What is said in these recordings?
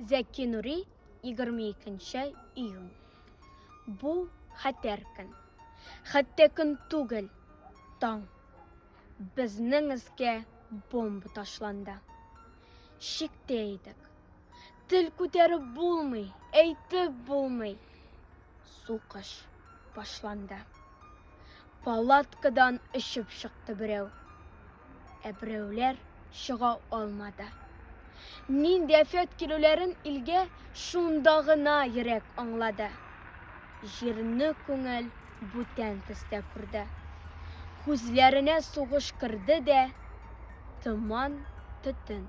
Зәки Нури 22 июнь. Бу хәтәр көн. Хәтта көн түгел, таң. Безнең өскә бомба ташланды. Шиктә идек. Тел күтәреп булмый, әйтеп булмый. Сугыш башланды. Палаткадан өшеп чыкты берәү. Ә берәүләр чыга алмады. Нинди афәт килүләрен илгә шунда гына йөрәк аңлады. Җирне күңел бүтән төстә күрде. Күзләренә сугыш керде дә, томан, төтен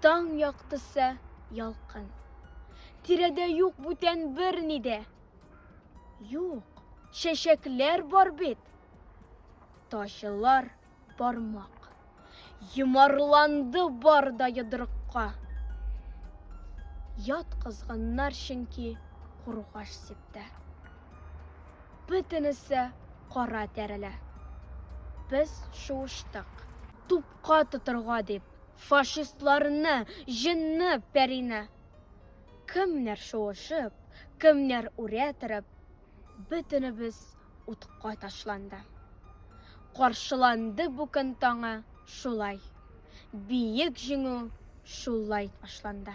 Таң яктысы ялкын. Тирәдә юк бүтән берни дә. Юк, чәчәкләр бар бит. Тачылар бармак. Йомарланды бар да йодрыкка. Ят кызганнар чөнки кургаш сиптә. Бөтенесе кара тәрелә. Без шуыштык. Тупка тотырга дип. Фашистларны, җенны, пәрине. Кемнәр шуышып, кемнәр үрә торып, Бөтенебез утка ташланды. Каршыланды бу көн таңы шулай, Биек җиңү шулай башланды.